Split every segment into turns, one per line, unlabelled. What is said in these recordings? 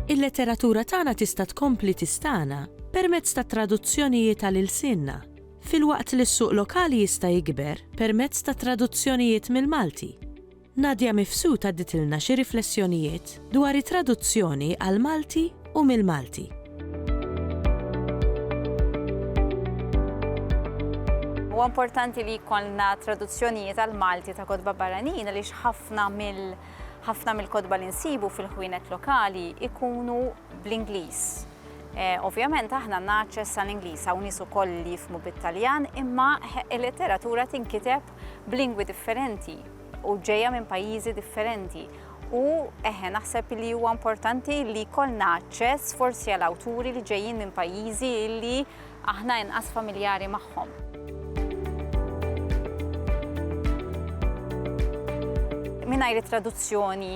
Il-letteratura tagħna tista' tkompli tistagħna permezz ta' traduzzjonijiet għal ilsienna, filwaqt li s-suq lokali jista' jikber permezz ta' traduzzjonijiet mill-Malti. Nadia Mifsud għadditilna xi riflessjonijiet dwar it-traduzzjoni għall-Malti u mill-Malti. Huwa importanti li jkollna traduzzjonijiet għall-Malti ta' kotba barranin għaliex ħafna mill ħafna mill-kotba li nsibu fil-ħwienet lokali ikunu bl-Ingliż. Eh, ovvjament aħna naċċess għal Ingliż hawn nies ukoll li jifmu bit-Taljan imma il-letteratura tinkiteb b'lingwi differenti u ġejja minn pajjiżi differenti u eħe naħseb li huwa importanti li jkollna aċċess forsi għal awturi li ġejjin minn pajjiżi li aħna inqas familjari magħhom. Mingħajr it-traduzzjoni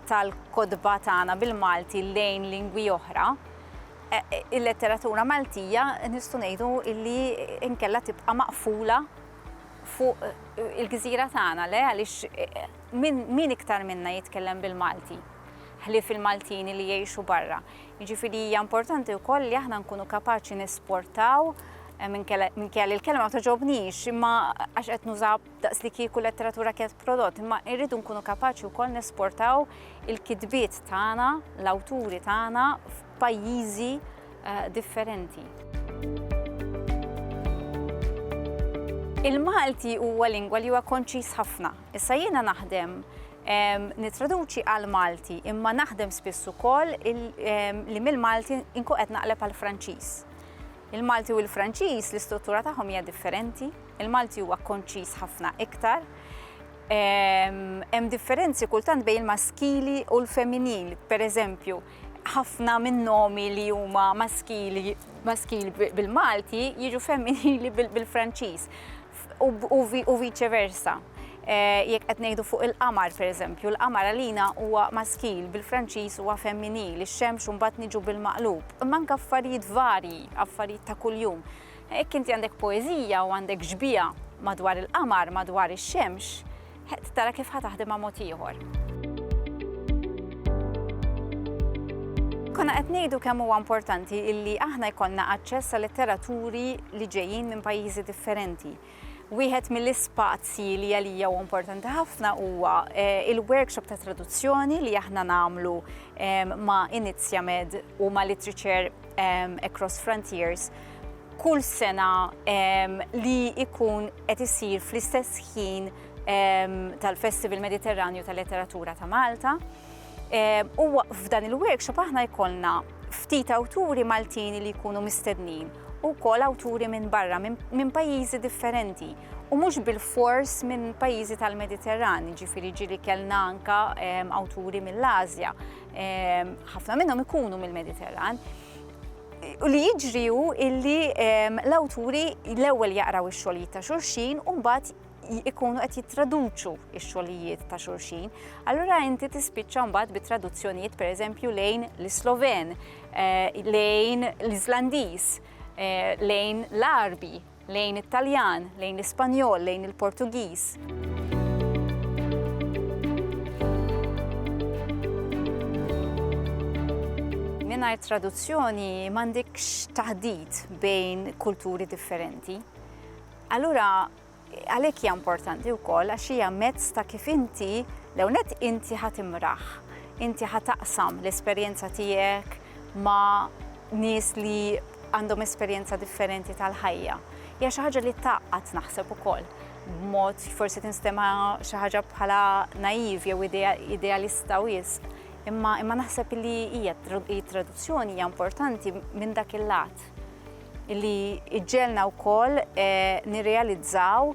tal-kotba tagħna bil-Malti lejn lingwi oħra, e, e, il-letteratura Maltija nistgħu ngħidu illi inkella tibqa' maqfula fuq il-gżira tagħna, le, għaliex min iktar minna jitkellem bil-Malti, ħlief il-Maltin li jgħixu barra. Jiġifieri hija importanti wkoll li aħna nkunu kapaċi nesportaw Eh, minn kelli l-kelma ma toġobnix, imma għax qed nuża daqs li kieku letteratura kienet prodott, imma irridu nkunu kapaċi wkoll nesportaw il-kitbiet tagħna, l-awturi tagħna pajjiżi differenti. Il-Malti huwa lingwa li huwa konċis ħafna. Issa jiena naħdem nitraduċi għal Malti, imma naħdem spiss ukoll li mill-Malti inku qed naqleb għal Franċiż. Il-Malti u l-Franċiż l-istruttura tagħhom hija differenti, il-Malti huwa konċis ħafna iktar. Hemm differenzi kultant bejn il-maskili u l-femminil, pereżempju, ħafna minn nomi li huma maskili maskil bil-Malti jiġu femminili bil-Franċiż u vice versa. Eh, jekk qed ngħidu fuq il-qamar pereżempju, l-qamar għalina huwa maskil bil-Franċiż huwa femminil, ix-xemx mbagħad niġu bil-maqlub. Imma anke affarijiet varji, affarijiet ta' kuljum. Jekk inti għandek poeżija u għandek ġbija madwar il-qamar, madwar ix-xemx, Qed tara kif ħa taħdimha mod ieħor. Konna qed ngħidu kemm huwa importanti illi aħna jkollna aċċess għal litteraturi li ġejjin minn pajjiżi differenti. Wieħed mill-ispazji li għalija huwa importanti ħafna huwa eh, il-workshop ta' traduzzjoni li aħna nagħmlu eh, ma' Inizjamed u ma' Literature Across Frontiers kull sena li ikun qed isir fl-istess ħin tal-Festival Mediterranju tal-Letteratura ta' Malta. U f'dan il-workshop aħna jkollna ftit awturi Maltini li jkunu mistednin u kol awturi minn barra, minn pajjiżi differenti. U mhux bil-fors minn pajjiżi tal-Mediterran, ġifiri ġili kellna anka awturi mill-Azja, ħafna minnhom ikunu mill-Mediterran. U li jiġri hu illi l-awturi l-ewwel jaqraw ix-xogħlijiet ta' xulxin u mbagħad ikunu qed jittraduċu x-xogħlijiet ta' xulxin. Allura inti tispiċċa mbagħad bi traduzzjonijiet pereżempju lejn l-Sloven, eh, lejn l-Islandiż, eh, lejn l-Arbi, Lejn it-Taljan, lejn l-Ispanjol, lejn il-Portugiż. mingħajr traduzzjoni m'għandekx taħdit bejn kulturi differenti. Allura għalhekk hija importanti wkoll għax hija mezz ta' kif inti l-ewnet inti ħatimraħ, inti ħataqsam l-esperjenza tiegħek ma' nies li għandhom esperjenza differenti tal-ħajja. Hija xi ħaġa li tgħaqqad naħseb ukoll b'mod forsi tinstema xi ħaġa bħala naiv jew idealista wisq. Imma imma naħseb li hija traduzzjoni hija importanti minn dak il-lat li iġġelna wkoll eh, nirrealizzaw